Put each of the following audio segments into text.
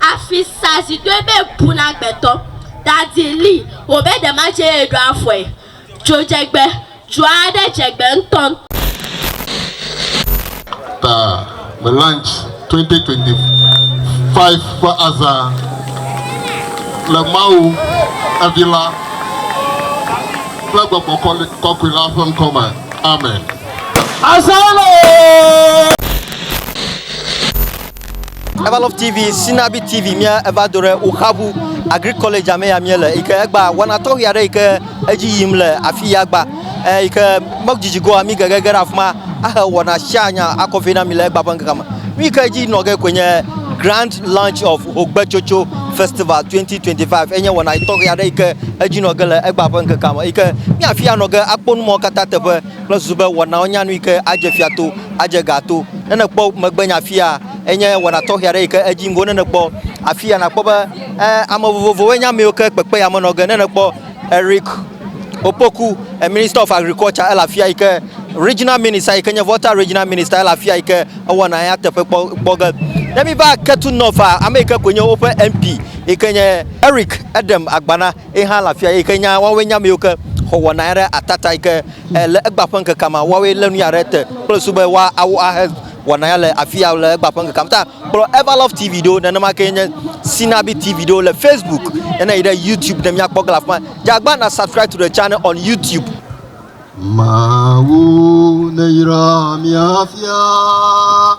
Afi sa zi doe be bu na gbetɔ. Dadi li wò be ɖe ma dze ye ɖo afɔe. Dzodzegbe, Dzo aɖe dze gbe ŋutɔŋutɔ. Ta le Lunch 2025 ƒe azã le Mawu, evi la, kple Gbɔgbɔ Kɔkɔe la ƒe ŋkɔ me. Amen. Azã le! Evalove TV, Sinabi TV, mía eva do ɖe Oxabu Agri College me ya mía le, yi ke egba wana tɔxi aɖe yi ke edzi yim le afi ya gba, eh, yi ke medzidzi goa mi gegege ɖe afi ma ahe wɔna sia nya akɔ vɛ na mi le egba ƒe ŋkeke me. Nu yi ke edzi nɔ ge koe nye Grand Launch of Hogbetsotso Festival 2025 enye wɔna tɔxi aɖe yi ke edzi nɔ ge le egba ƒe ŋkekea me yi ke mía afi ya nɔ ge akpɔ numɔ katã teƒe. kple susu be wɔnawo nye anu yi ke adze fia to, adze ga to. Ne nèkpɔ megbenya afia, enye wɔna tɔxɛ aɖe yi ke edzi ŋgɔ ne nèkpɔ. Afia nàkpɔ be eh, ame vovovowoe nye ame yiwo ke kpekpe ya me nɔ ge. Ne nèkpɔ Eric Opoku, eh, Minister of Agriculture, ele afia yi ke Regional Minister yi ke nye Volta Regional Minister ele afia yi ke ewɔna ya teƒe kpɔ, kpɔ ge. Ne míva Ketu North-a, ame yi ke koe nye woƒe MP yi ke nye Eric Edem Agbana. Ye hã le afia yi ke nya woawoe nye ame yiwo ke xɔ wɔna ya ɖe atata yi ke eh, le egba ƒe ŋkekea me. Woawoe lé nu ya ɖe te kple susu be woawo ahe wɔna ya le afi ya le egba ƒe ŋkekea me. Ta kplɔ Everlove TV ɖo, nenema ke nye Sinabi TV ɖo le Facebook, nena yi ɖe YouTube ne míakpɔ ge le afi ma. Dze agbana subscribe to the channel on YouTube. Mawu neyra mia fia.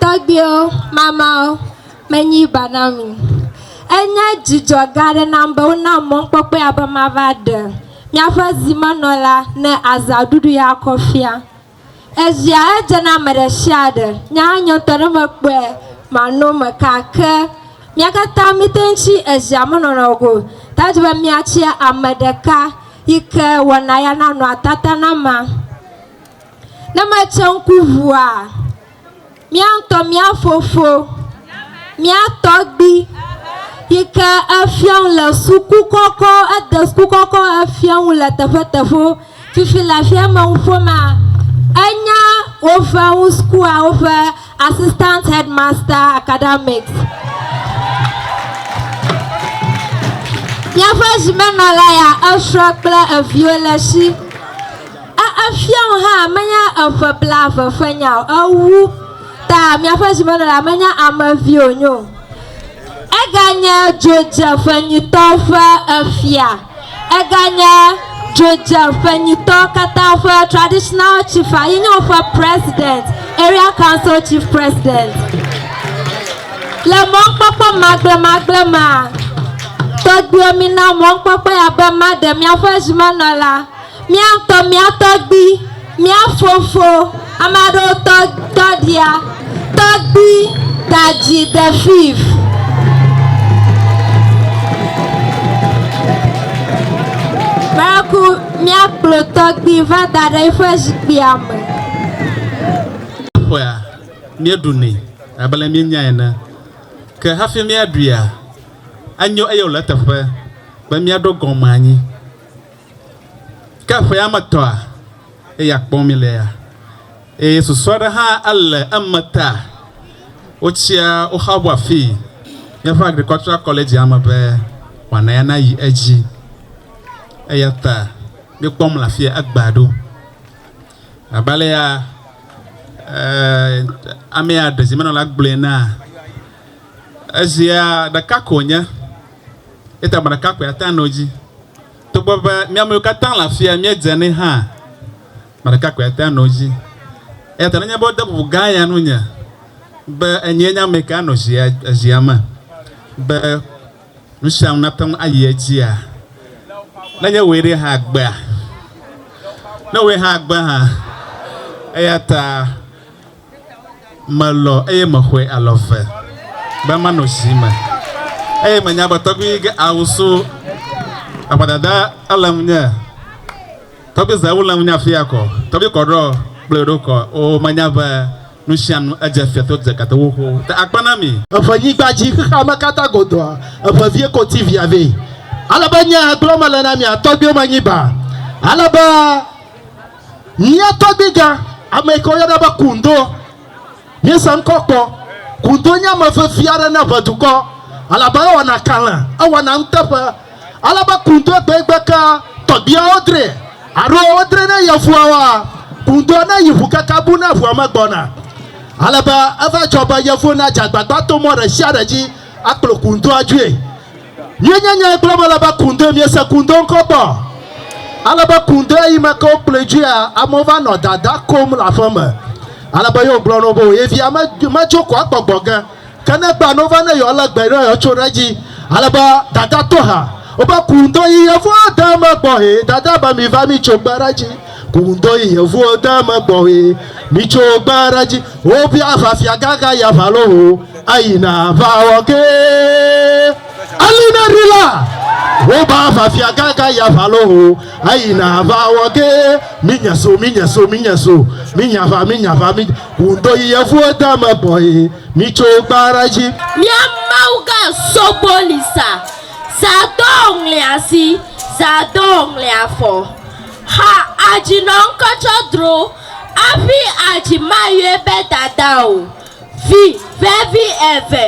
Tɔgbuiwo, mamawo menye ba na mi. Enye dzidzɔ gã aɖe nam be wonam mɔkpɔkpɔ ya be mava ɖe míaƒe zimenɔla ne azã ɖuɖu ya akɔ fia. Ezia edze na ame ɖe sia ɖe. Nye hã nye ŋutɔ ne mekpɔe mano eme kaa. Ke mía katã míete ŋu tsi ezia me nɔnɔ go o. Ta di be míatsi ame ɖeka yi ke wɔna ya nanɔ atata na mea. Ne metse ŋku ŋua, Mía ŋutɔ mía fofo, mía tɔgbi yi ke efia nu le suku kɔkɔ, ede suku kɔkɔ efia nu le teƒeteƒewo. Fifi le afia emenuƒomea, enya woƒe nu sukua woƒe Assistant Headmaster Academics. Míaƒe zimenɔla ya esrɔ̃ kple eviwo le esi. E, efiawo hã menya eƒe blaeve ƒe nya o, ewu ta miaƒe zimenɔla menya ame vi wònye o. Eganye dzodzeƒe nyuitɔ ƒe efia, eganye dzodzeƒe nyuitɔ katã ƒe traditional chief-a ye nye woƒe president, area council chief president. Le mɔnukpɔkpɔ magblẽmagblẽ mea, tɔgbuiwo mina mɔnukpɔkpɔ ya be maɖe miaƒe zimenɔla. Mía ŋutɔ mía tɔgbi, mía fofo, ame aɖewo tɔ tɔɖia, tɔgbi dadzi de fiv. Maraku mía kplɔ tɔgbi va da ɖe eƒe zikpuia me. Ƒea míeɖunɛ abe ale míenya ene. Ke hafi míaɖuia, enyo eye wòle eteƒe be míaɖo gɔme anyi. Ke ƒea me tɔa, eya kpɔm mílea, eye susu aɖe hã ele eme ta wotsia woxaʋu afii, míaƒe Agricultural College-a me be wɔna ya nayi edzi. Eya ta míekpɔm le afia egbea ɖo. Abe alea amea ɖezimenɔla gblɔe na ezia ɖeka ko nye, eta me ɖeka koe ate ŋu ano edzi. Togbɔ be mía amewo katã le afia, míedze anɛ hã. Ame ɖeka koe ate ŋu anɔ edzi. Eya ta nenye be wode bubu gã ya nunye be enyee nye ame ka anɔ zia, zia me be nu sia nu nate ŋu ayi edzia, nenye wòe ɖe hã agbea? Ne wòe hã agbea hã. Eya ta. Melɔ eye mexɔe alɔ ve be manɔ zi me eye menya be tɔgbui yi ge awu so eƒe dada ele ŋunye. Tɔgbui ze wu le ŋunye afi ya kɔ. Tɔgbui kɔ ɖɔ kple yeɖo kɔ. O menya be nusianu edze fia to dze gate wo xowo te akpe na mi. Eƒe nyigba dzi xexea me katã godoa eƒe vie koti via vɛ. Ale be nye gblɔ mele na mia tɔgbuiwo me nyi ba ale be. Mía tɔgbiga, ame yi ke woyɔna be Kundo, míese ŋkɔ kpɔ. Kundo nye ame vevi aɖe na ʋe dukɔ, elabe ewɔna kalẽ, ewɔna nuteƒe. Ale be Kundo gbee gbe ke tɔgbiawo dre alo wodre ne yevuawoa, Kundo neyi ŋu keke bu ne ŋua megbɔna. Ale be eva dzɔ be yevuwo nadze agbagba to mɔ ɖe sia ɖe dzi akplɔ Kundo adzoe. Míenye nyae kple eme le be kundoe miese kundo ŋkɔtɔ. Ale be kundo eyi me ke wokplɔe dzoea, amewo va nɔ dada kom le aƒe me. Ale be yewo gblɔ na wo be ye via me, medzo ko agbɔgbɔ ge. Ke ne egbea no va ne yewo le gbe ɖe yewo tso ɖe edzi. Ale be dada to ha. Wobe kundo yi yevua de eme gbɔ hee. Dada be miva mi tso gbe ɖe edzi. Kuŋdɔ yi yevuwo deme gbɔwé mitso gba ɖe dzi wo bi ava fia gaga ya va lo ho ayi na va wɔ ke ali na ri la wo ba ava fia gaga ya va lo ho ayi na va wɔ ke mi nya so mi nya so mi nya so mi nya va mi nya va mi kuŋdɔ yi yevuwo deme gbɔwé mitso gba ɖe dzi. Mia mawu ga sogbo li sa, sa dɔ ŋli asi, sa dɔ ŋli afɔ. Xa adzi nɔ ŋkɔ tsɔ dro aƒi adzi mayɔe be dada o. Vi vevi eve,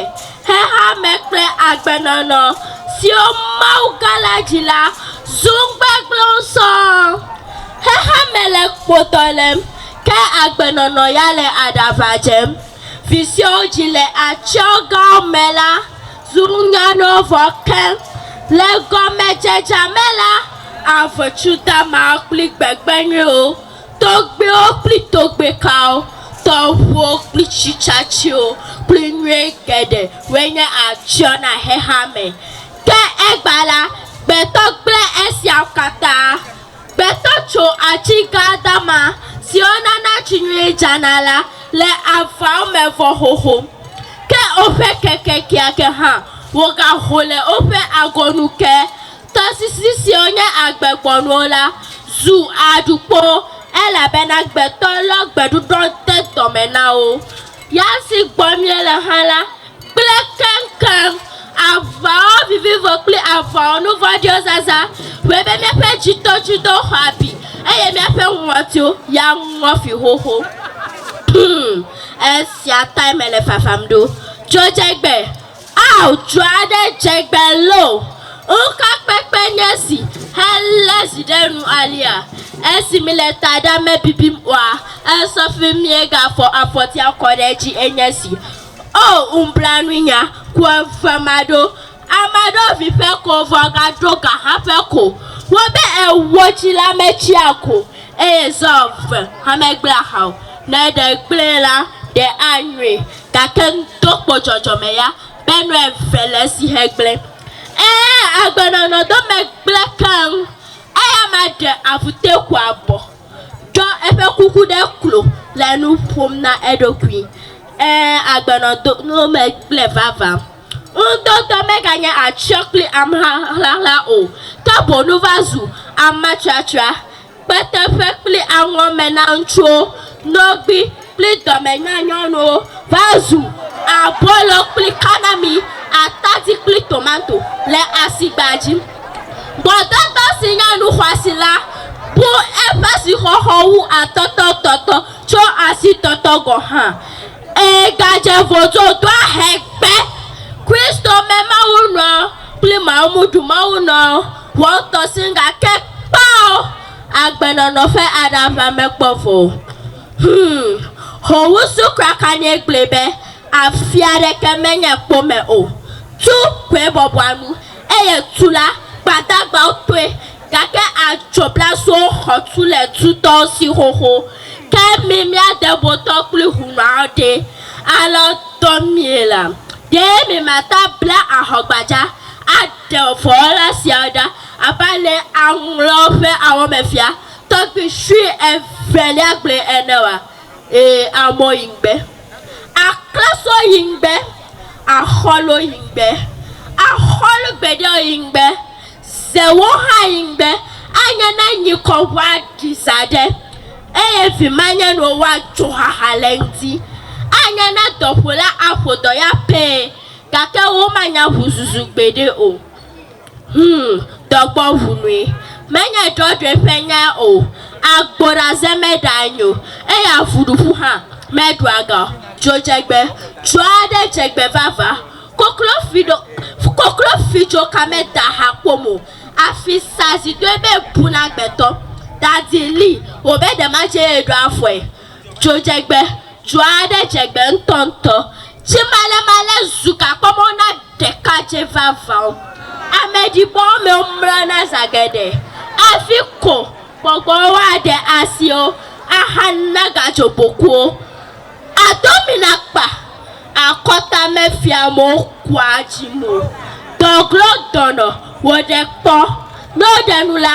xexeame kple agbenɔnɔ siwo Mawu gã la dzi la zu ŋugbegblẽwo sɔŋ. Xexeame le kpotɔ lém, ke agbenɔnɔ ya le aɖaʋa dzem. Vi siwo dzi le atsyɔ̃ gãwo me la Zu ŋa nɔ vɔ keŋ. Le gɔmedzedzea me la, aʋetsu damawo kple gbegbe nyuiwo, togbɛwo kple togbɛ kawo, tɔʋuwo kple tsi tsatsiwo kple nyuie geɖe woe nye atsyɔ̃ na xexeame. Ke egbea la, gbetɔ gblẽ esiawo katã. Gbetɔ tso atsi gã dama siwo nana tsi nyuie dzana la le avawo me vɔ xoxo. Ke woƒe keke keake hã wogaho le woƒe agɔnu ke. Tɔsisi siwo nye agbegbɔnuwo la zu aɖukpowo elabena gbetɔ lɔ gbeɖuɖɔ de dɔme na wo. Ya si gbɔ miele hã la. kple keŋkeŋ aʋaɔ vivivo kple aʋaɔ nuvɔ̃ɖiɔ zazã wɔe be míaƒe dzidɔdzidɔ xɔ abi eye míaƒe ŋɔtiwo ya ŋɔ fi xoxo. Hum, esia tae mele fafam ɖo. Dzo dze gbe. Ao, dzo aɖe dze gbe loo! Ŋukakpekpe nye esi helé zi ɖe nu alea! Esi mele taɖa me bibim oa, esɔ fi miegafɔ afɔtia kɔ ɖe edzi enye esi. O ŋublanuinya ku eve maɖo amaɖo vi ƒe ko vɔ gaɖo ga hã ƒe ko wo be ewo tsi la metsi ako eye zɔ eve hã megble aha o ne ɖe gble la ɖe anyui gake ŋdo kpo dzɔdzɔme ya be nu eve le esi he gble e agbenɔnɔ do megble keŋ eya ma ɖe avute ku abɔ Tsɔ eƒe kuku ɖe klo le nu ƒom na eɖokui, Ẽ, agbenɔ do eme kple vava. Ŋutɔ ŋutɔ meganye atsyɔ̃ kple ameha ʋlaʋla o, ke boŋ va zu ametratra, kpete ƒe kple aŋɔ me na ŋutsuwo, nɔgbi, kpli dɔmenyanyɔnuwo va zu abolo kpli kanami, atadi kpli tomato le asigba dzi. Gbɔdɔdɔ si nye nu xɔasi la bu eƒe sixɔxɔ wu atɔtɔ tɔtɔ tso asi tɔtɔ gɔ̃ hã. Ẽ, gadze vodzo doa hɛ gbe. Kristo me mawunɔ kpli mawumuɖumawunɔ ʋɔtɔ sin gake kpao agbenɔnɔ ƒe aɖaʋa mekpɔ vɔ o. Hum! Xowu su kraka nɛ gblɔe be, Afi aɖeke menye kpo me o. Tu koe bɔbɔa nu, eye tu la, gbadagbawo tɔe, gake adzoblasuwo xɔ tu le tutɔwo si xoxo. Ke mi Miadebotɔ kple hunuawo ɖe, alɔ dɔ mie la, ɖe miemate abla ahɔgbadza aɖe vɔ̃wɔla siawo ɖa abe ale aŋlɔ ƒe awɔmefia Tɔgbi sue evelia gblɔe ene oa? Ee, amɔ yi ŋgbe. Aklasɔ yi ŋgbe. Axɔlo yi ŋgbe. Axɔlo gbeɖeɔ yi ŋgbe. Zewo hã yi ŋgbe. Anye ne nyikɔ ŋua ɖi zã ɖe eye vimanyɛnuwo wa dzoxaxa le ŋdi. Anye ne dɔƒola aƒo dɔ ya pɛɛ gake womanya ŋuzuzu gbeɖe o. Humm dɔgbɔ ʋu nui menye drɔdrɔe ƒe nyae o agbo ɖaze me ɖa anyi o eye avu ɖuƒu hã me ɖua ga o dzo dzegbe dzo aɖe dzegbe vava koklo fi ɖo koklo fi dzo ka me da ha ƒom o afi sa zi doe be bu na gbetɔ dadi li wo be ɖe ma dze ye ɖo afɔe Dzodzegbe dzɔ aɖe dze egbe ŋutɔŋutɔ. Tsi malemale zu gakpɔmɔ na ɖekadzɛ vavã. Ameɖibɔwo me womlɔna zã geɖe hafi ko gbɔgbɔwo aɖe asi wo ahana gadzobokuwo. Adomina kpa akɔta mefia amewo kua dzim o. Dɔglo dɔnɔ wò ɖe kpɔ. Ne woɖe nu la,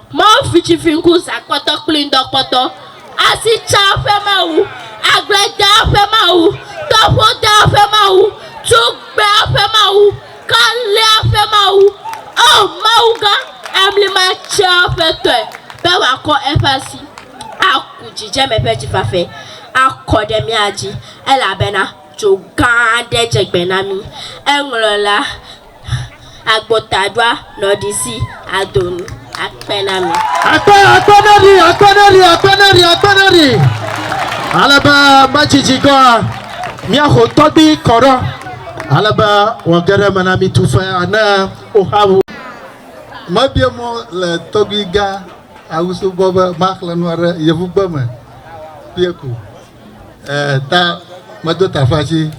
Mɔ fitsifiŋku zakpɔtɔ kpli ŋdɔkpɔtɔ, asitsa ƒe mawu, agbledea ƒe mawu, tɔƒodea ƒe mawu, tugbea ƒe mawu, kalea ƒe mawu, O Mawu gã, amli matsea ƒe tɔe, be wòakɔ eƒe asi aku dzidzeme ƒe dzifafe akɔ ɖe mía dzi, elabena dzo gã aɖe dze gbe na mí. Eŋlɔ la Agbo taɖoa nɔɖisi adonu akpe na mi. Akpe, akpe na ɖi, akpe na ɖi, akpe na ɖi, akpe na ɖi. Alebe medzidzi gɔa, miaxo tɔgbi kɔɖɔ. Alebe wɔ geɖe me na mi tu fe ne woxa wu. Mebie mɔ le tɔgbi gã awusu gbɔ be maxle nua ɖe yevugbe me kpie ko. E, ta medo tafa dzi,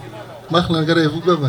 mexle geɖe yevugbe me.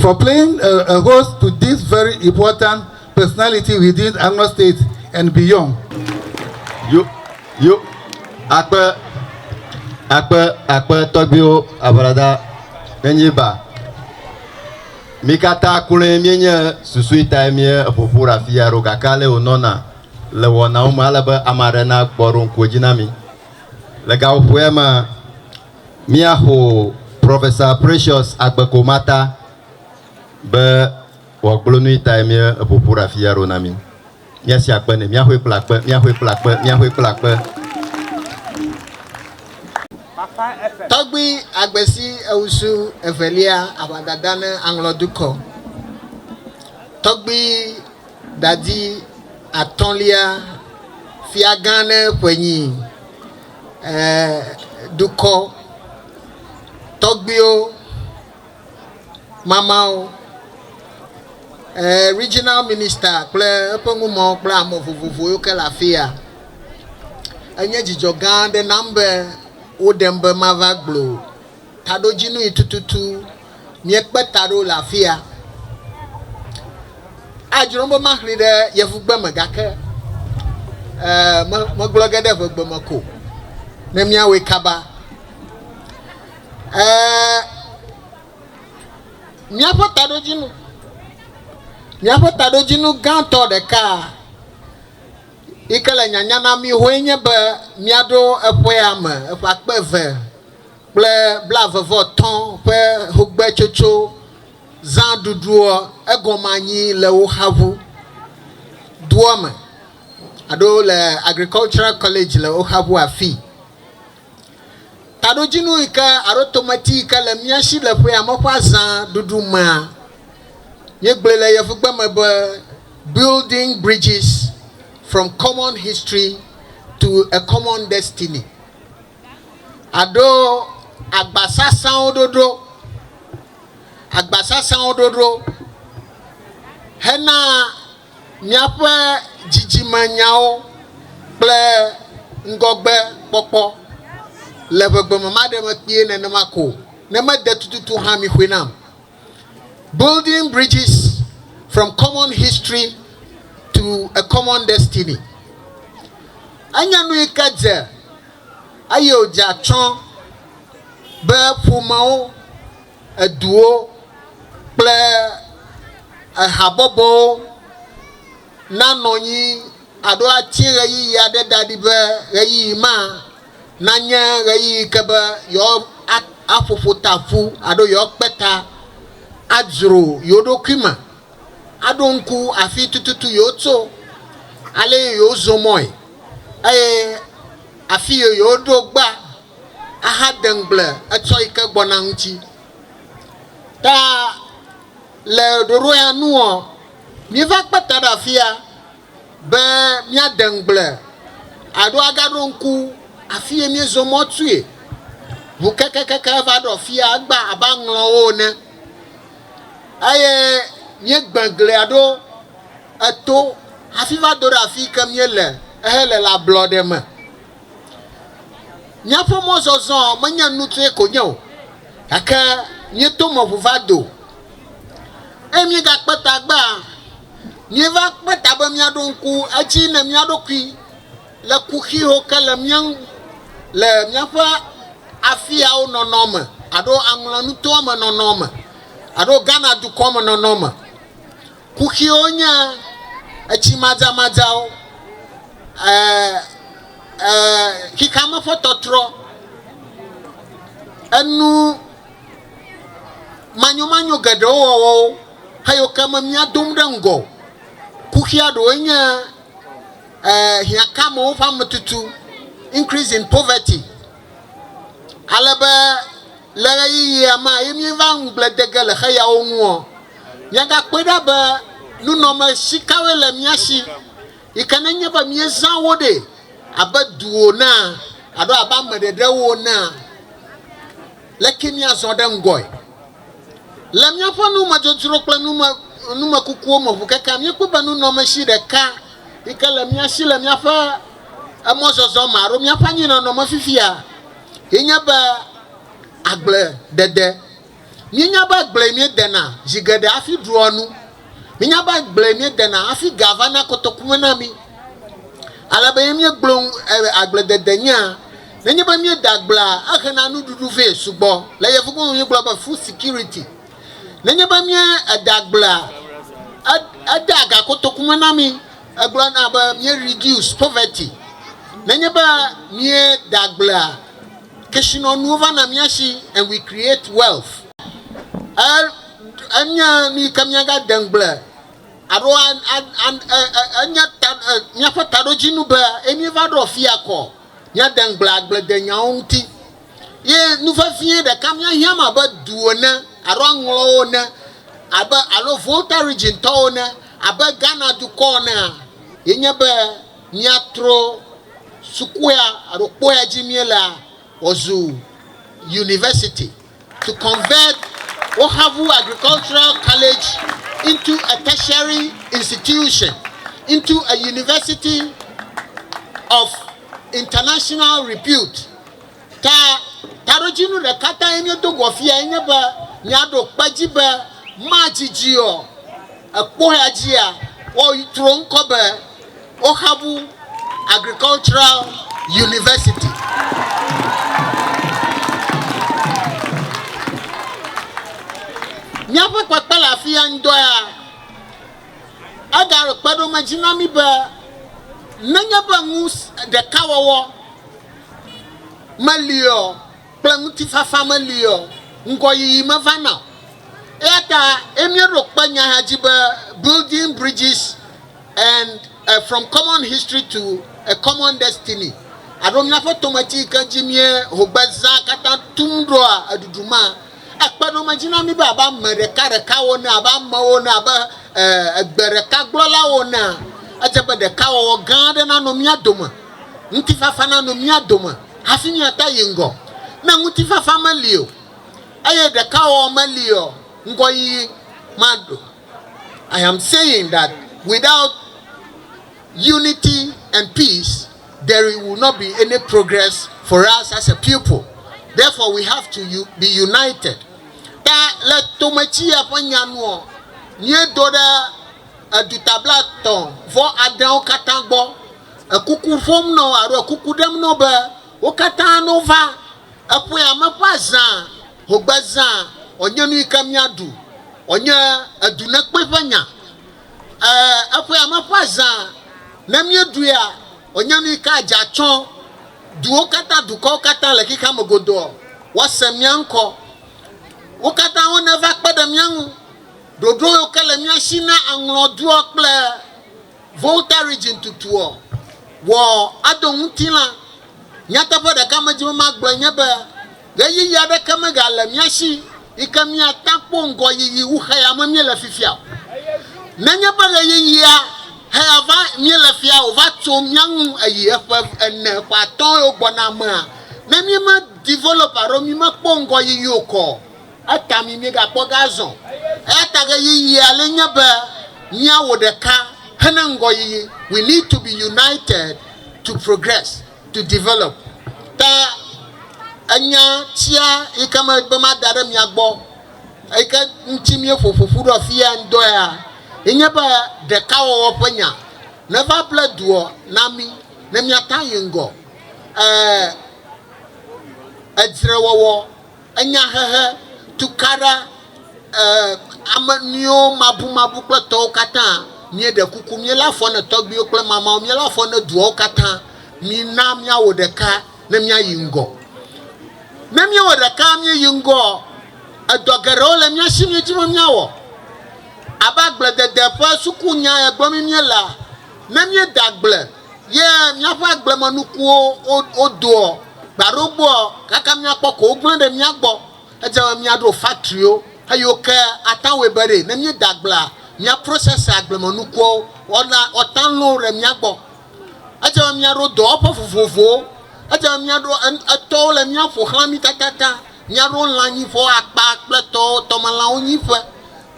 For playing a a host to this very important personality within Anglo State and beyond. Yo, yo, akpe, akpe, akpe tɔgbiwo abrada enye ba. Mi kata kloe mi nye susui tae mi eƒoƒu ɖe afi ya ɖo gake ale wo nɔna le wɔnawo me ale be ama ɖe na gbɔ ɖo ŋkuwo dzi na mi. Le gaƒoƒoea mea. Míaxo Professor Precious Agbekomata be wòagblɔ nui tae míeƒo ƒu ɖe afi ya ɖo na mí. Míasi akpe nɛ. Míaxɔe kple akpe, míaxɔe kple akpe, míaxɔe kple akpe. Tɔgbui agbesi ewusu evelia aʋadada ne aŋlɔ dukɔ. Tɔgbui dadi atɔ̃lia fiagã ne ƒenyi dukɔ tɔgbuiwo mamawo, regional minister kple eƒe numewo kple ame vovovo yiwo ke le afi ya. Enye dzidzɔ gã aɖe nam be woɖem be mava gbloo. taɖodzinui tututu míekpe ta ɖo le afi ya. Adzro be maxli ɖe yevugbe me gake ee megblɔ ge ɖe ʋegbe me ko ne míawɔe kaba. Ee míaƒe taɖodzinu míaƒe taɖodzinu gãtɔ ɖeka yi ke le nyanya na mí hoe nye be míaɖo eƒea me eƒe akpe eve. kple blaeve-vɔ-etɔ̃ ƒe xogbetsotso zã ɖuɖuɔ, egɔme anyi le wo xa ŋu doɔ me alo le agricultural college le wo xa ŋu afii. Taɖodzinu yi ke alo tomati yi ke le mía shi le ƒea me ƒe azã ɖuɖu mea, míegblɔe le yevugbe me be building bridges from common history to a common destiny. aɖo agbasasãwo ɖoɖo, agbasasãwo ɖoɖo hena míaƒe dzidzimenyawo kple ŋgɔgbekpɔkpɔ le ƒegbeme. Maɖe mekpee nenema ko o, ne mede tututu hã, mixɔe nam. Building Bridges from Common History to a Common Destiny, Enye nu yi ke dze eye wòdze atsyɔ̃ be ƒomewo, eduwo, kple habɔbɔwo, nanɔ anyi alo ati ɣeyiɣi aɖe da ɖi be ɣeyiɣi ma nanye ɣeyiɣi ke be yewoaƒo ƒota ƒu alo yewoakpe ta adzro yewo ɖokui me, aɖo ŋku afi tututu yewotso, ale yi yewozɔ mɔe, eye afi yi yewoɖo gbea, ahade ŋugble etsɔ yi ke gbɔna ŋuti. Ta Le ɖoɖo ya nuɔ, míeva kpe ta ɖe afia be míade ŋugble alo agaɖo ŋku afi ye míezɔ mɔ tsoe. Ŋu kekekeke va ɖɔ fia egba abe aŋlɔwo ene eye míegbe glia ɖo eto hafi va do ɖe afi yi ke míele ehele le ablɔɖe me. Míaƒe mɔzɔzɔ menye nutsoe ko nye o, gake míeto me ŋu va do, eye míegakpe ta egbea. Míeva kpe ta be míaɖo ŋku edzi ne mía ɖokui le kuxiwo ke le mía ŋu le míaƒe afiawo nɔnɔ me alo aŋlɔnutoa me nɔnɔ me alo Ghana dukɔ me nɔnɔ me Kuxiwo nye etsi madzamadzawo, xexeame ƒe tɔtrɔ, enu manyomanyo geɖewo wɔwɔwo heyi ke me mía dom ɖe ŋgɔ. Kuxia ɖewoe nye hiãkamewo ƒe ametutu, increase in poverty. Ale be le ɣeyiɣia ma ye míeva ŋugble de ge le xeyawo ŋuɔ, míagakpɔe ɖa be nunɔmesi kawoe le mía si yi ke nenye be míezã wo ɖɛ abe duwo enea alo abe ame ɖeɖewo enea, leke míazɔ ɖe ŋgɔe. Le míaƒe numedzodzro kple numekukuwo me ʋukekea, míekpɔ be nunɔmesi ɖeka yi ke le mía si le míaƒe. emɔzɔzɔ ma alo míaƒe anyinɔnɔ me fifia ye nye be agble dede. Míenya be agble míedena zi geɖe hafi ɖua nu. Míenya be agble míedena hafi ga va na kotoku me na mí. Ale be ye míegblɔ ŋu agble dede nyea, nenye be míeda agblea, ehe na nuɖuɖu vɛ sugbɔ. Le yevugbe me míegblɔ be food security. Nenye be míeda agblea, edea ga kotoku me na mí. Egblɔna be mí reduce poverty nenye be mía da gblea kesinɔnuwo va na mía si and we create wealth. E enye nu yi ke mía ga de ŋugble alo a a a e enye ta e míaƒe taɖodzinu be eye mí va ɖɔ fia kɔ mía de ŋugble agbledenyawo ŋuti. Ye nu vevie ɖeka míahiãm abe du ene alo aŋlɔwo ene abe alo Volta Region tɔwo ene abe Ghana dukɔ enea ye nye be míatro sukua alo kpɔea dzi míelea wòazu University to convert Wohavu Agricultural College into a tertiary institution, into a University of international repute. Ke taɖodzinu ɖeka tae míedo go afiyae nye be míaɖo kpe edzi be madidi o. Èkpɔea dzia, wotrɔ ŋkɔ be Ohabu Agricultural University. Míaƒe kpekpe le afi ya ŋdɔ ya, egaɖo kpeɖomedzi na mí be nenye be nu ɖeka wɔwɔ, meli o kple ŋutifafa meli o, ŋgɔyiyi mevana o. Eya ta ye míeɖo kpe nyaha dzi be Building Bridges and uh, From Common History to a Common Destiny alo Míaƒe Tometi yi ke dzi míeho gbe zã katã tum ɖoa eɖuɖu ma ekpe ɖom edzi na mí be abe ame ɖekaɖekawo ene, abe amewo ene, abe uh, egbe ɖeka gblɔlawo enea, edze be ɖekawɔwɔ gã aɖe nanɔ mía dome. ŋutifafa nanɔ mía dome hafi míate ayi ŋgɔ. Ne ŋutifafa meli o, eye ɖekawɔwɔ meli o, ŋgɔyiyi maɖo. I am saying that without unity and peace there will not be any progress for us as a people therefore we have to be united. Ta le tometsiya ƒe nya nuɔ, míedo ɖe edutablatɔ vɔ aɖeawo katã gbɔ. ekuku ƒom na wo alo ekuku ɖem na wo be wo katã no va eƒe ame ƒe azã hogbe zã wònye nu yi ke míaɖu wònye edu ne kpe ƒe nya ee eƒe ame ƒe azã ne míeɖuia wònye nu yi ke adze atsɔ duwo katã dukɔwo katã le xexea me godoo woase mía ŋkɔ wo katã wo neva kpe ɖe mía ŋu ɖoɖo yi ke le mía si na aŋlɔ dua kple Volta Region tutuɔ, wɔ ado ŋutilã. Nyateƒe ɖeka medi be magblɔe nye be ɣeyiɣi aɖeke megale mía si yi ke míate akpɔ ŋgɔyiyi wu xeyame míele fifia o. Nenye be ɣeyiɣia heya va míele fia wòva tso mía ŋu eyi eƒe ene, ƒe atɔ̃ yewo gbɔna mea, ne míeme develop alo mímekpɔ ŋgɔyiyi o kɔ, Eta mi miegakpɔ ge azɔ. Eya ta ɣeyiɣi ale nye be miawɔ ɖeka hena ŋgɔyiyi. We need to be united to progress, to develop. Ta enya tsia yike me be mada ɖe mia gbɔ yike ŋuti mieƒo ƒoƒu ɖo afia ŋdɔea ye nye be ɖekawɔwɔ ƒe nya neva ble duɔ na mi ne miata yi ŋgɔ e edzrewɔwɔ Enyahehe, tukaɖa, ɛɛ ame nuiwo mabumabu kple tɔwo katã. Míeɖe kuku, míelé afɔ ne tɔgbiwo kple mamawo, míelé afɔ ne duawo katã. Mina míawɔ ɖeka ne míayi ŋgɔ. Ne míewɔ ɖeka míeyi ŋgɔɔ, edɔ geɖewo le mía si míedi be míawɔ. Abe agbledede ƒe sukunya ye gblɔm míelea, ne míeda agble, ye míaƒe agblemenukuwo wodoɔ gba ɖo gbɔa, gake míakpɔ ko wogblẽ ɖe mía gbɔ. Edze be míaɖo faktriwo eye woke atanwe be ɖe ne míeda agblea, míaprosɛse agblemenukuawo woana woata lõ ɖe mía gbɔ. Edze be míaɖo dɔwɔƒe vovovowo. Edze be míaɖo etɔwo le mía ƒo xlã mí tatataŋ. Míaɖo lãnyiƒewo, akpa kple tɔwo, tɔmelãwo nyiƒe.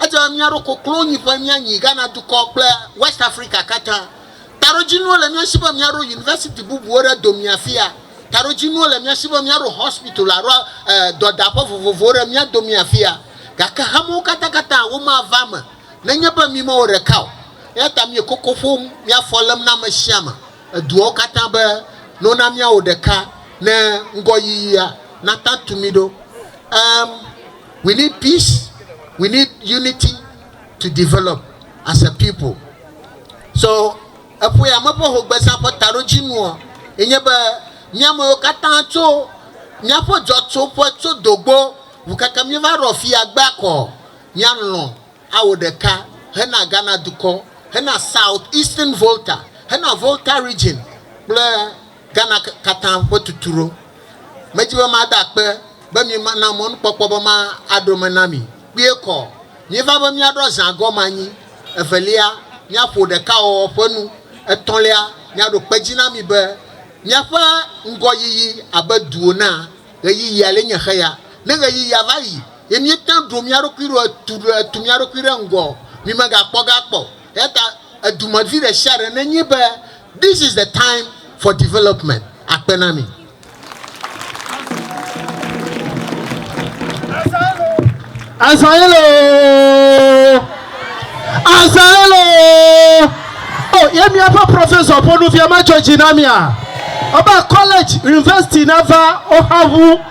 Edze be míaɖo koklonyiƒe míanyi Ghana dukɔ kple Wɛst Afrika katã. Taɖodzinuwo le mía si be míaɖo yunivɛsiti bubuwo ɖe domea afia. Taɖodzinuwo le mía si be míaɖo hɔspital alo dɔdaƒe vovovowo ɖe mía domea afia. Gake hamewo katãkatã womava eme nenye be mí mewɔ ɖeka o. Eya ta míele koko ƒom, mía afɔ lém na ame sia ame, eduawo katã be, Nona míawɔ ɖeka ne ŋgɔyiyia nata tu mí ɖo. Ɛ̃, we need peace, we need unity, to develop as a people. So eƒo ya me ƒe hogbeza ƒe taɖodzinuɔ, ye nye be míamewo katã tso míaƒe dzɔtsoƒe tso dogbo ŋu keke míeva ɖɔ fi ya gbe akɔ míalɔ̃ awo ɖeka hena Ghana dukɔ, hena South Eastern Volta, hena Volta Region kple. Ghana katã ƒe tuturo. Medi be mada akpe be miena mɔnukpɔkpɔ be maɖo me na mi. Kpuie kɔ, míeva be míaɖɔ zã gɔme anyi, evelia, míaƒo ɖekawɔwɔ ƒe nu, etɔ̃lia, míaɖo kpe dzi na mi be miaƒe ŋgɔyiyi abe duwo na ɣeyiɣi ale nye xeya. Ne ɣeyiɣia va yi ye míete ŋu ɖo mía ɖokui ɖo etu ɖo etu mía ɖokui ɖe ŋgɔ o, mimegakpɔ ga kpɔ o. Eyata edumevi ɖe sia ɖe nenye be This is the time for development akpe na mi. Azael oo Azael oo o ye miaƒe professor ƒe nuvia medzɔ dzi na mia ebe college university nava woxa ŋu.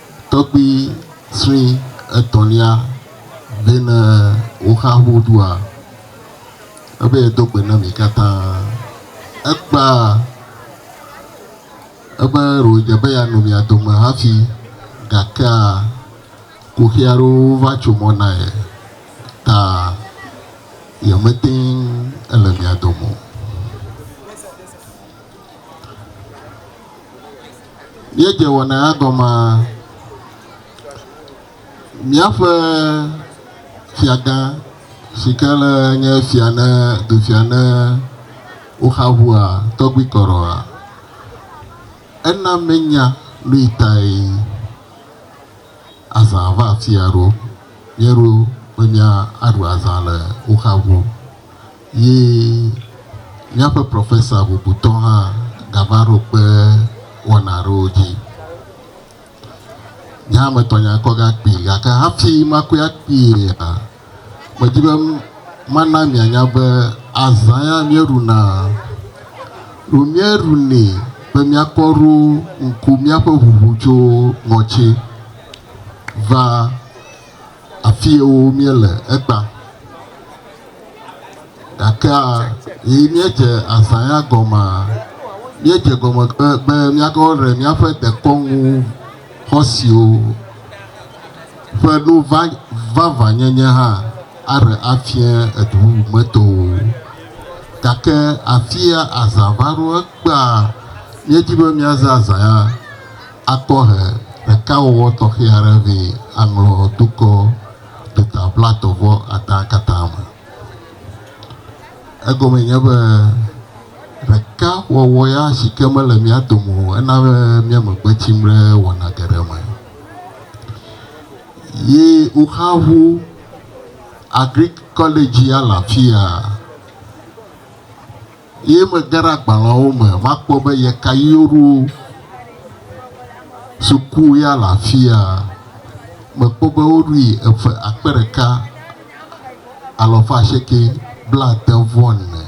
Tɔgbui sue etɔ̃lia be, Ne woxa ŋu ɖua, ebe yeado gbe na mi katã. Ekpea ebe ɖewòdze be yeanɔ mia dome hafi, gakea kuxi aɖewo va tso mɔ na ye ta yemete ŋu le mia dome o. Míedze wɔna ya gɔmaa? Míaƒe fiagã si ke le nye fia ne dufia ne woxa ŋua tɔgbi kɔrɔa? Ena menya nuyi tae azã va afia ɖo. Míeɖo be míaɖu azã le woxa ŋu. Ye míaƒe profesa bubutɔ hã gava ɖo kpe wɔna aɖewo dzi. Nye hã metɔ nya kɔ ge akpee gake hafi makɔe akpeea, medi be mana mianya be azã ya míeɖuna, ɖo míeɖunɛ be míakpɔ ɖo ŋku míaƒe ʋuʋu tso ŋɔtsi va Afiewo míele ekpa, gakea yi míedze azã ya gɔmea, míedze gɔme be míate ŋu aɖe míaƒe dekɔnu xɔsewo ƒe nu vavãnyenye hã aɖe afia edu bubu me tɔwo. Gake afia azã va ɖo ekpea, míedi be míaze azã ya Akpɔhe ɖekawɔwɔ tɔxɛ aɖe vɛ aŋlɔ dukɔ duta blaetɔ̃ vɔ adã katã me. Egɔme nye be ɖeka wɔwɔ ya si ke mele mía dome o ena be mía me gbe tsim ɖe wɔna geɖe me. Ye woxa ŋu Agric Kɔledzia le afia. Eye mege ɖe agbalẽawo me va kpɔ be ye ka ɣi woɖo suku ya le afia, mekpɔ be woɖoe eƒe akpe ɖeka, alafa asieke blade-vɔ-ene,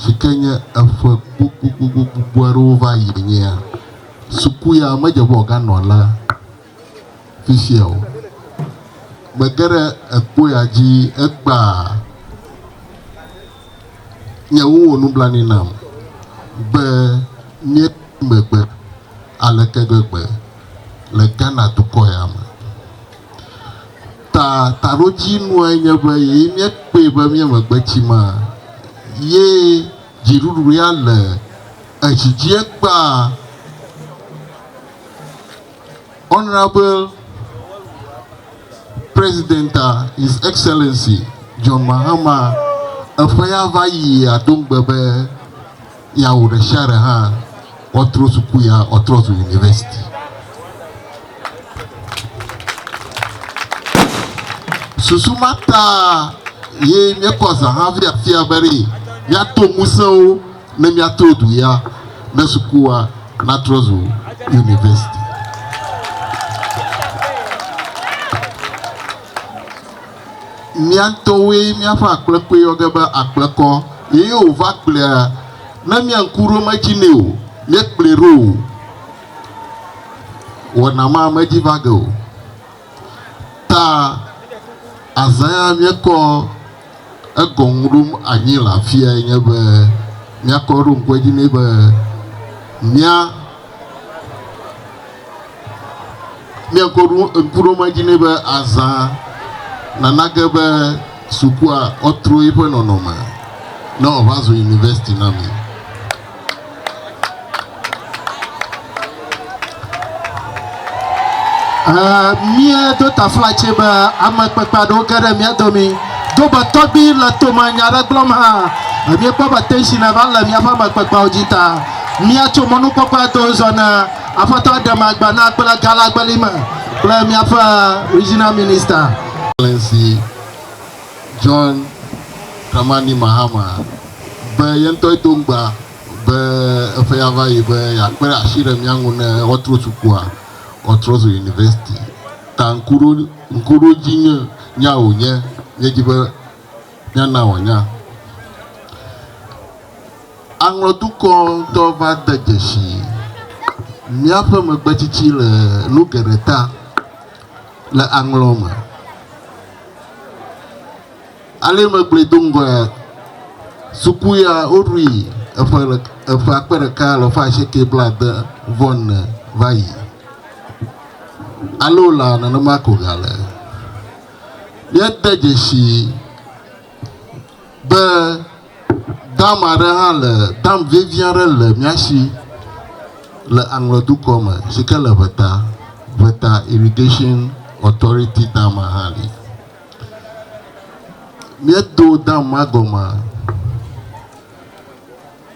sike nye eƒe gbogbogbogbo aɖewo va ɣi nyea. Suku ya medze be wòganɔ alea. fifia o. Me geɖe ekpɔ ya dzi ekpa nye wowɔ nublanui nam be mía megbe aleke gbegbe le Ghana dukɔ ya me. Ta taɖodzi nua nye be ye mía kpɔe be mía megbe tsi ma ye dziɖuɖu ya le edzi dzi ekpa. Honorable President His Excellency John Mahama eƒe ya va yia do ŋugbe be yeawɔ ɖe sia ɖe hã woatrɔ suku ya woatrɔ zu university. Susu ma ta ye míekɔ zã hafi afia be ɖee míato ŋusẽwo ne míato du ya ne sukua natrɔ zu yunivɛsiti. Mía ŋutɔwoe míaƒe akplekɔe yɔ ge be akplekɔ eye wòva kplea ne mia ŋku ɖom edzi nɛ o, míekplɔe ɖo o, wɔna ma medzi va ge o. Ta azãea míekɔ egɔŋu ɖom anyi le afiae nye be míakɔ eɖo ŋku edzi nɛ be mía míakɔ ɖo ŋku ɖom edzi nɛ be azã nana ge be sukua woatro eƒe nɔnɔme ne wòava zu yunivɛsiti na mi. Eh, míedo taflatse be ame kpekpe aɖewo ge ɖe mía domi. Do be tɔgbi le tome nya aɖe gblɔm hã. Míekpɔ be tension va le míaƒe ame kpekpeawo dzi ta. Míatso mɔnukpɔkpɔa do zɔ ne aƒetɔ aɖe ma gbe na kple galagbeli me kple míaƒe regional minister. Excellency. John Dramani Mahama be ye ŋutɔe do ŋugbe be eƒe ya va yi be yeakpe ɖe asi ɖe mía ŋu ne woatro sukua, woatrɔ zu yunivɛsiti. Ta ŋkuɖodzinya wònye, míedi be míana wòanya. Aŋlɔ dukɔ ŋutɔ va de dzesi míaƒe megbetsitsi le nu geɖe ta. le aŋlɔ me. Ale megblɔe do ŋgɔe suku ya woɖui eƒe eƒe akpe ɖeka le ƒe asieke blaade vɔ ne va yi. Alo la nenema ko gale. Míade dzesi Be dam aɖe hã le, dam vevi aɖe le mía si le Aŋlɔ dukɔ me si ke le Ʋeta, Ʋeta Irrigation Authority dama hã li. Míedo dam ma gɔme,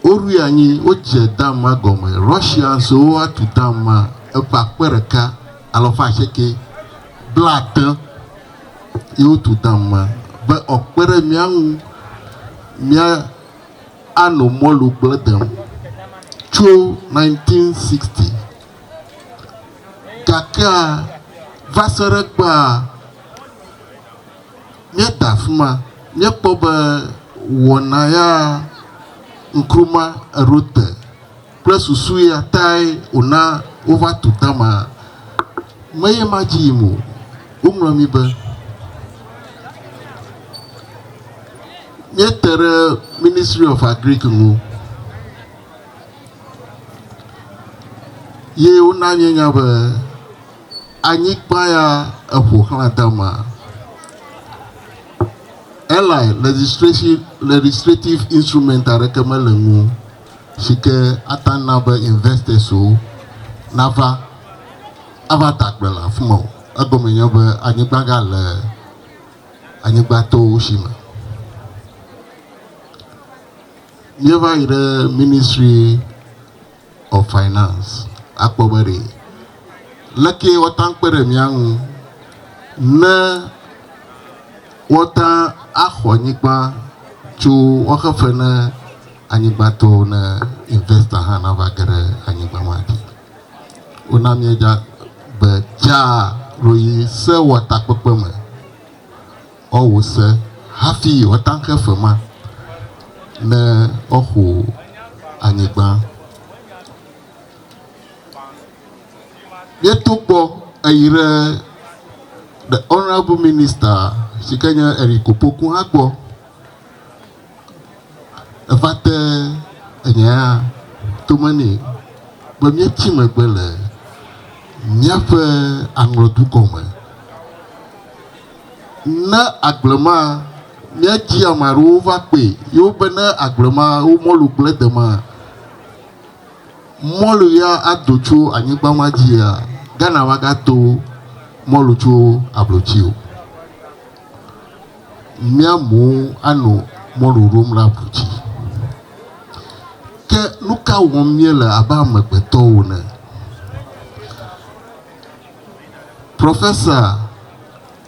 woɖui anyi, wodze dam ma gɔme. Russia so woa tu dam ma eƒe akpe ɖeka alafa asieke blatẽ. ye wotu dam ma, be ɔkpe ɖe mía ŋu mía ano mɔlu gblẽ dem tso 1960. Gakea va se ɖe kpea mía da afima, mía kpɔ be wɔna ya ŋkruma eɖo te. Kple susu ya tae wòna wova tu Tamar. Meye madzi yim o. Woŋlɔ mí be, Míete ɖe Ministry of Agric ŋu ye wona míenya be anyigba ya eƒo xlã Tamar. Eli, Legislation, Legislative Instrument aɖeke mele eŋu o. si ke ate ŋu ana be investors-wo nava ava da gbe le afi ma o. Egɔme nye be anyigba gale anyigbatɔwo si me. Míeva yi ɖe Ministry of Finance akpɔ be ɖe lekee woate ŋu akpe ɖe mía ŋu ne woate ŋu axɔ nyigba tso woaxe fe ne Anyigba to ne investor hã nava ge ɖe anyigba ma dzi. Wona míedza gbe dzaa ɖo yi sewɔtakpekpe me ɔwò se hafi ɔtanxe fe ma ne ɔxo anyigba. Míeto kpɔ eyi ɖe the honourable minister si ke nye Eric Opoku hã gbɔ. Eva te enya ya tome nɛ be míetsi megbe le míaƒe aŋlɔdu gɔme. Ne agble ma, míedzi ame aɖewo va kpɔe ye wobe ne agble ma wo mɔlu gblẽ de ma, mɔlu ya ado tso anyigba ma dzia, Ghana magado mɔlu tso ablotsi o. mía mowo anɔ mɔ ɖoɖom ɖe avu dzi. Ke nu ka wɔm míele abe amegbetɔwo ene? Profesa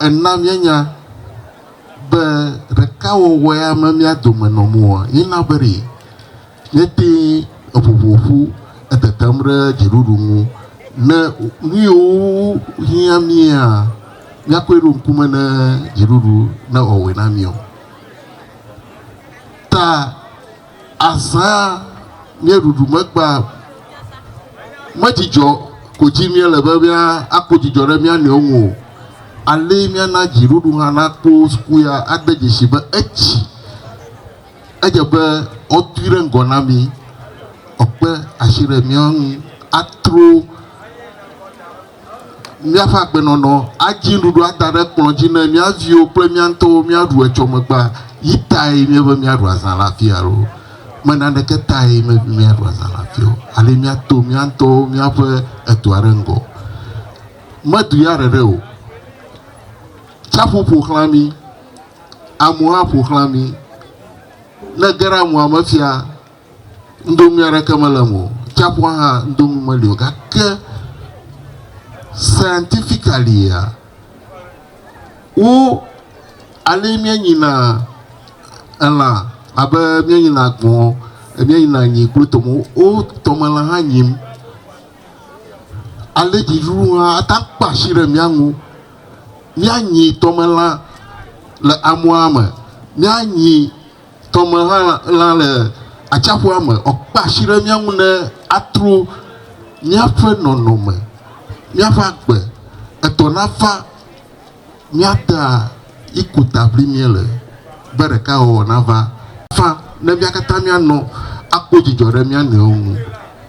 ena míenya be ɖekawɔwɔe ame mía dome nɔ moa, yina be ɖee. Míetee eŋuŋu ƒu etetem ɖe dziɖuɖu ŋu. Ne nuyiwo hiã mía, míakɔe ɖo ŋkume ne dziɖuɖu ne ewɔe na mí o. Ta azã míeɖuɖu megba medzidzɔ ko dzi míele be mía akpɔ dzidzɔ ɖe mía nɔewo ŋu o. Alee míana dziɖuɖu hã nakpɔ sukuya ade dzesi be etsi. Edze be woatui ɖe ŋgɔ na mí, wòakpe asi ɖe mía ŋu atro míaƒe agbenɔnɔ, adzi nuɖuɖu ada ɖe kplɔ̃ dzi ne mía viwo kple mía ŋutɔwo míaɖu etsɔ megbea, yi tae míebe míaɖu azã le afii alo me naneke tae míebe míaɖu azã le afii o. Ale míato mía ŋutɔwo míaƒe edua ɖe ŋgɔ. Medu ya ɖeɖe o. Tsiaƒu ƒo xlã mí. Amewo aƒo xlã mí. Ne ege ɖe amea me fia, nudoŋui aɖeke mele eme o. Tsiaƒua hã nudoŋui meli o. Gake scientifically-a, wo ale míenyina elã abe míenyina gbɔ̃, míenyina nyi kple tɔme, wo tɔmelã hã nyim. Ale dziɖuɖu hã ate ŋu akpe asi ɖe mía ŋu. míanyi tɔmelã le amɔa me, míanyi tɔmelã lã le atsiaƒua me ɔ, kpe asi ɖe mía ŋu ne atro míaƒe nɔnɔme, míaƒe agbe etɔ nava mía ta yi ko ta ʋlim míele be ɖekawɔwɔ nava. Fã ne mía katã míanɔ akpɔ dzidzɔ ɖe mía nɔewo ŋu.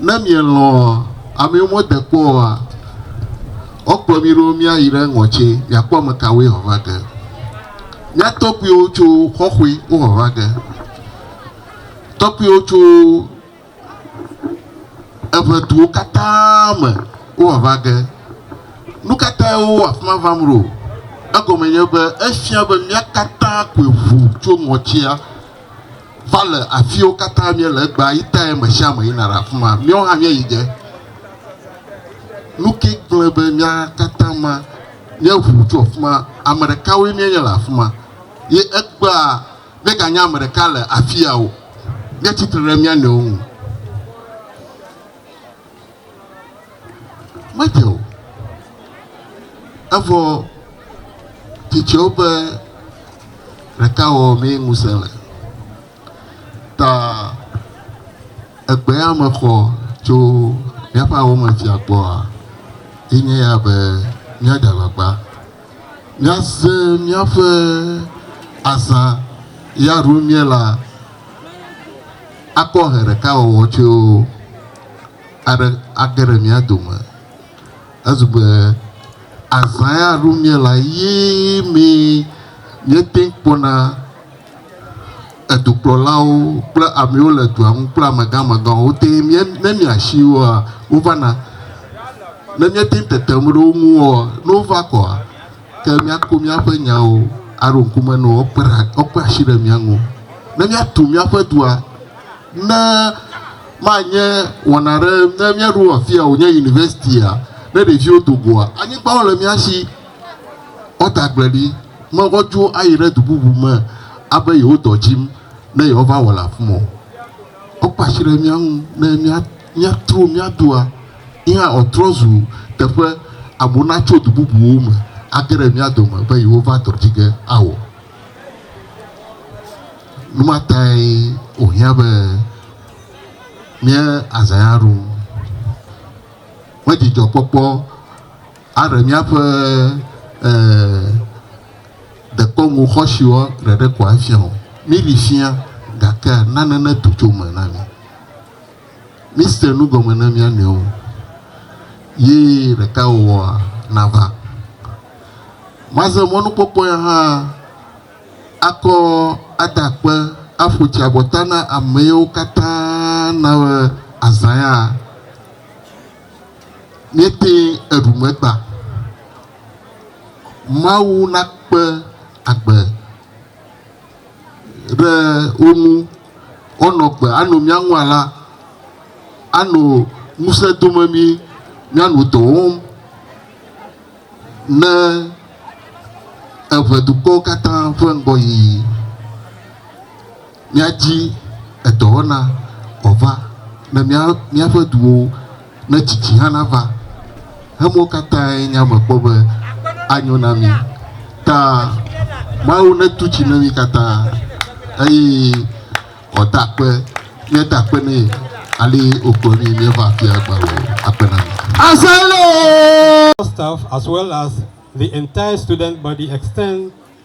Ne mielɔ̃a ame yiwo mede kpɔ oa, woakplɔ mí ɖo míayi ɖe eŋɔ tsɛ, miakpɔ ame kawoe vava ge. Mía tɔkpuiwo tso Xɔxoe wovava ge. Tɔkpuiwo tso eŋɛduwo katã me wovava ge. Nu ka tae wowa afi ma vam ɖo? Egɔme nye be efia be mía katã koe ʋu tso ŋɔtia. va le afiwo katã míele egbea yi tae me sia me yina ɖe afi ma. Míawo hã míeyi ge. Nu ke gblẽ be mía katã ma míeʋu tso afi ma. Ame ɖekawoe míenye le afi ma. Ye egbea míeganye ame ɖeka le afia o. Míatsi tre ɖe mía nɔewo ŋu. Medze o. Evɔ tsitsewo ƒe ɖekawɔwɔ mee ŋusẽ le. Ta egbea mexɔ tso míaƒe awɔmetsia gbɔa, enye ya be, míaɖe alakpa. Míase míaƒe azã ya ɖum míela akpɔ ʋe ɖeka wɔwɔ tso aɖe age ɖe mía dome. Ezu be azã ya ɖum míela ye mee míete ŋu kpɔna edukplɔlawo kple amewo le dua ŋu kple amegã amegãwo wote mía ne miasi woa wova na ne míate ŋu tetem ɖe wo ŋu oa ne wova kɔa ke míako míaƒe nyawo aɖo ŋkume na wo kpe ɖa wokpe asi ɖe mía ŋu ne míatu míaƒe dua ne manye wɔna aɖe ne míaɖo afia wònye universitia ne ɖeviwo do goa anyigbawo le mía si woata agbleɖi. Mexɔ dzi wo ayi ɖe du bubu me abe yewo dɔ dzim ne yewova wɔ le afi ma o. Wokpe asi ɖe mía ŋu ne mía míatro mía dua yi hã wòatrɔ zu teƒe amewo natso du bubuwo me age ɖe mía dome be yewova dɔ dzi ge awɔ. Nu ma tae wòhiã be míe azãe aɖu. Medzidzɔkpɔkpɔ. Aɖe míaƒe e dekɔnu xɔsiwo ɖeɖe ko afia o. Míɖi fia, gake nane netu tso eme na mí. Míse nu gɔme na mía nɔewo, ye ɖekawɔwɔa nava. Maze mɔnukpɔkpɔ ya hã akɔ ada akpe aƒo tsi abɔta na amewo katã na be azã ya. Míetee eɖu megba. Mawu nakpe agbe ɖe wo ŋu woanɔ agbe ano mía ŋu alea, ano ŋusẽ dome mí míanɔ dɔ wɔm ne eŋedukɔwo katã ƒe ŋgɔyiyi. míadi edɔwɔna wòava ne mía míaƒe duwo ne tsitsi hã nava. Emuwo katãe nye ame kpɔ be anyo na mí. Ta Mawu netu tsi ne mí katã eye wòada akpe míeda akpe nɛ ale wòkplɔ mí míeva afia agbalẽ o. Akpe na mi. Assemble! Staff as well as the entire student body extend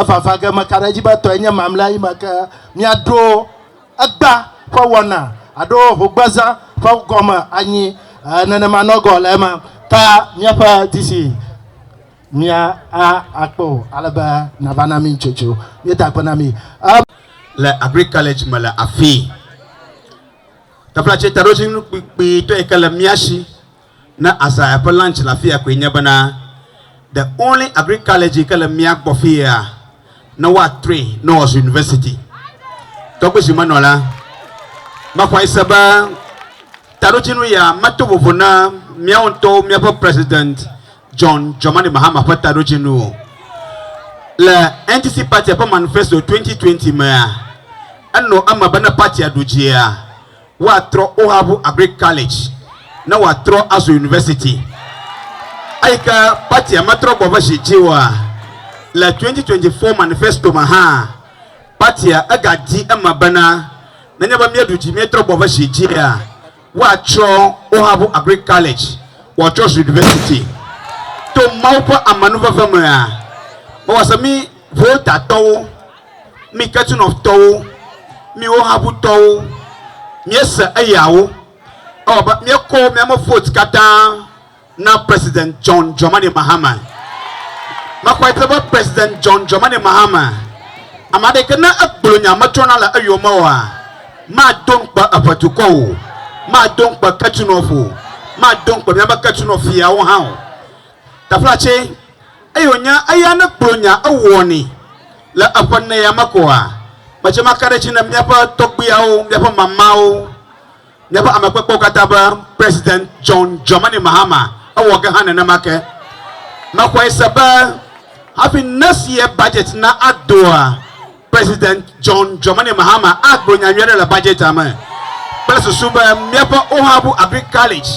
Evava ge meka ɖe edzi be etɔe nye mamlea yi me ke míaɖo egba ƒe wɔna alo hogbezã ƒe gɔme anyi. Ẽ, nenema nɔ gɔ̃ le eme. Ka míaƒe di si mía a akpɔ o ale be nava na mí nutsotso. Míeda akpe na mí. Ẽ. Le Agric College me le afii. Teƒe la tse taɖodzinu kpikpitɔ yi ke le mía shi. Ne Azaya ƒe lunch le afia koe nye bena the only agric college yike le mía gbɔ fiea ne woatrɔe ne wòazu university. Tɔgbe zi menɔ la, mexɔe se be taɖodzinu ya meto vovo na míawo ŋutɔwo míaƒe President John Dramani Mahama ƒe taɖodzinu o. Le NDC party ƒe manifesto 2020 mea, enɔ eme be ne party-a ɖu dzia, woatrɔ Ohabu Agric College ne wòatrɔ azu university. Eyi ke patia metrɔ gbɔ ƒe zi dzi oa, le 2024 manifesto me hã, patia egadi eme bena nenye be míeɖu dzi míetrɔ gbɔ ƒe zi dzia, woatsrɔ Ohabu Agric College wòatsɔ zu university. To Mawu ƒe amenuveve mea, mewɔ se mí Volta-tɔwo, Mi kesinɔtɔwo, miwo habutɔwo, miese eyawo. Ewɔ abe miekɔ miame vote katã na President John Dramani Mahama. Mexɔe se be President John Dramani Mahama, ame aɖeke ne egblɔ nya metrɔna le eyome oa, mado ŋukpe eƒe dukɔ o, mado ŋukpe kesinɔf o, mado ŋukpe miabe kesinɔfiawo hã o. Taflatse. Eye wònye eya nekplɔ nya ewɔ ni le eƒe nɛa me koa? Medze me aka ɖe edzi ne míaƒe tɔgbuiawo, míaƒe mamawo, míaƒe ame kpekpewo katã be President John Dramani Mahama ewɔ ge hã nenema ke. Mexɔe se be hafi nesi ye budget na adoa, President John Dramani Mahama agblɔ nya nyui aɖe le budgetia me kple susu be míaƒe Ohabu Agric College,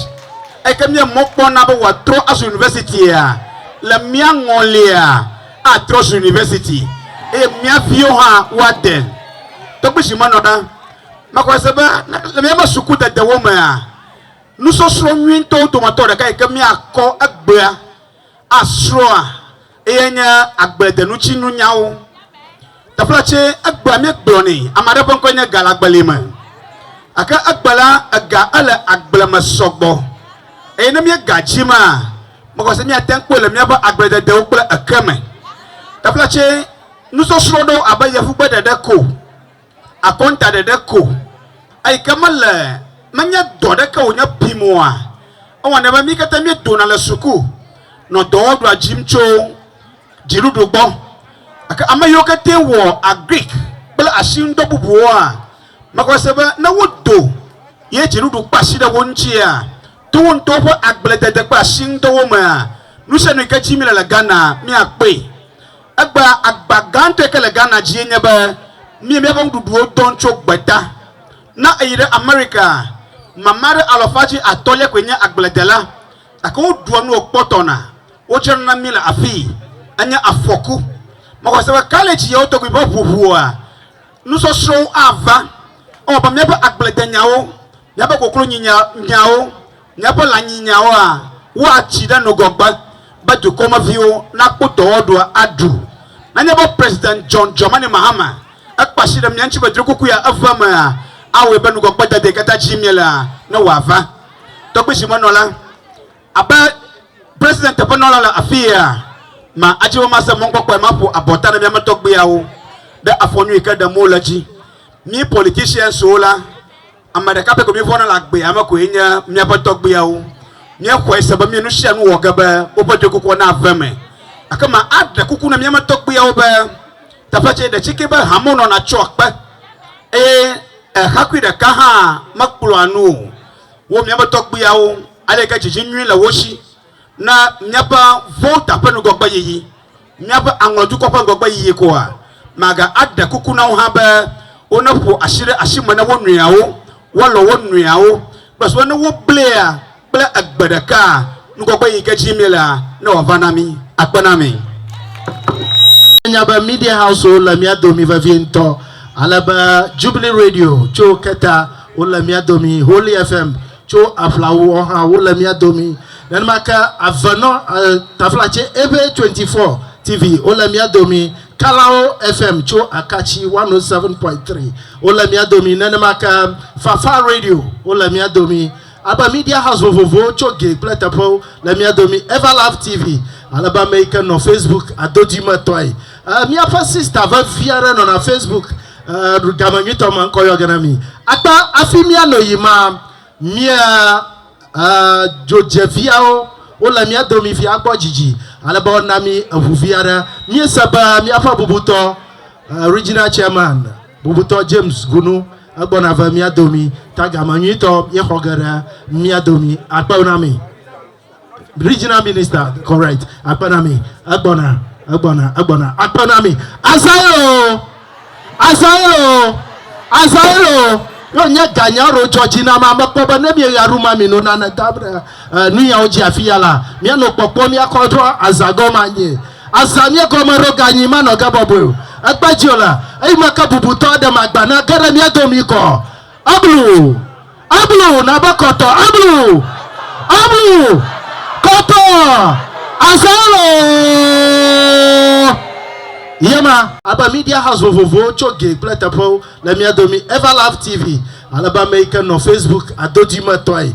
eyike míe mɔ kpɔm na be wòatrɔ azu Universitia, le mía ŋɔlia atrɔ zu University eye mía viwo hã woade tɔgbi si menɔ ɖa. Mexɔe se be le míaƒe suku dedewo mea, nusɔsrɔ̃ nyuitɔwo dometɔ ɖeka yike míakɔ egbea, Asrɔ̃a ye nye agbedenutsiŋunyawo. Teƒe tse egbea mi gblɔ ni. Ame aɖe ƒe ŋkɔe nye Ga le agbeli me. Eke egbe la ega ele agble me sɔgbɔ. Eye ne mi ga dzi ma, mexɔ se miate ŋu kpɔe le miaƒe agblededewo kple eke me. Teƒe tse nusɔsrɔ̃ ɖewo abe yevugbe ɖeɖe ko. Akɔntaɖeɖe ko, eyi ke mele, menye dɔ ɖeke wònye pim oa? Ewɔnɛ be mí katã míedona le suku nɔ dɔwɔɖua dzim tso dziɖuɖu gbɔ. Gake ame yiwo katã wɔ Agric kple asinudɔ bubuwoa, mexɔe se be ne wodo ye dziɖuɖu kpe asi ɖe wo ŋutia, to wo ŋutɔwo ƒe agbledede kple asinudɔwo mea, nusianu yi ke dzi míele le Ghana, míakpɔe. Egbea agba gãtɔ yi ke le Ghana dzie nye be mí míaƒe nuɖuɖuwo dɔn tso gbeta. Ne èyi ɖe Amerikaa, mama ɖe alɔfa dzi atɔ̃lia koe nye agbledela, gake woɖua nu wòkpɔtɔna. Wodzrana na mí le afii. Enye afɔku. Mexɔ se be kalidzi yewo tɔgbi ƒe ʋuʋua, nusɔsrɔ̃wo ava. Ewɔ abe míaƒe agbledenyawo Míaƒe koklonyinyinyawo, míaƒe lãnyinyinyawoa wua tsi ɖe nugɔgbe be dukɔmeviwo nakpɔ dɔwɔɖu aɖu. Nenye be President John Dramani Mahama ekpe asi ɖe mía ŋuti be drokoko ya eve emea, awɔe be nugɔgbedede katã dim míelea newòava. Tɔgbizimenɔla. Abe President teƒenɔla le afii ea, ma adzi be mase mɔkpɔkpɔe maƒo abɔta na miame tɔgbuiawo ɖe afɔ nyui ke ɖem wole dzi. Mí politicianswo la, ame ɖeka pɛ ko mívɔna le agbea me koe nye míaƒe tɔgbuiawo. Míexɔe se be mí nusianu wɔ ge be woƒe ɖoekukua nave eme. Gake ma aɖe kuku na míame tɔgbuiawo be teƒe tsɛ ɖe tsike be hamewo nɔna tsoa kpe eye eɣeakui ɖeka hã mekplɔa nu o. Wo míaƒe tɔgbuiawo, aleke dzidzi nyui le wo si na míaƒe vɔ̃wo ta ƒe ŋgɔgbeyiyi, míaƒe aŋlɔdukɔ ƒe ŋgɔgbeyiyi koa? Maga aɖe kuku na wo hã be woneƒo asi ɖe asi me na wo nɔeawo, woalɔ̃ wo nɔeawo, kple sube ne woblia kple egbe ɖeka ŋgɔgbe yi ke dim míelea, ne wòava na mí, akpe na mí. Enya be Media House-wo le mía domi vevie ŋutɔ, ale be Jubilee Radio tso keta Wole mía domi, Holy FM tso Aflawu ɔ hã wole mía domi. Nenema ke Avenɔ ɛ Taflatse Eve 24 TV wole mía domi. Kalawo FM tso Akatsi 107.3 wole mía domi. Nenema ke Fafa Radio wole mía domi. Alebe Media House vovovowo tso ge kple teƒewo le mía domi. Everlove TV alebe ame yi ke nɔ Facebook adodui me tɔe. Eh, míaƒe sista vevi aɖe nɔna Facebook eh, game nyuitɔ me, ŋkɔ yɔ ge na mi. Akpa afi míanɔ yi ma, mía eh, dzodzeviawo wole mía domi vi agbɔ dzidzi, ale be wona mi eŋuvi aɖe. Míese be míaƒe bubutɔ eh, Regional Chairman, bubutɔ James Gunu, egbɔna ve mía domi, ta game nyuitɔ míexɔ ge ɖe mía domi. Akpewo na mi. Regional minister, correct. Akpenami, egbɔna, egbɔna, egbɔna. Akpenami, azãe o, azãe o, azãe o. Yo nye ganya ro dzɔ dzi na ma mekpɔ be ne mi ɣa ru ma mi no na ne ta bre nu ya o dzi afi ya la mia no kpɔkpɔ mia kɔ trɔ azã gɔ ma nye azã mia gɔ me ro ganyi ma nɔ ge bɔbɔe o ekpe dzi o la eyi ma ke bubu tɔ ɖe ma gba na ge ɖe mia do mi kɔ eblu Ablu, nabe kɔtɔ, ablu, ablu, kɔtɔ, azalɔɔ, ye ma. Abe media house vovovowo tso gee kple teƒewo le mía domi Everlove TV ale be ame yi ke nɔ Facebook adodui me tɔe.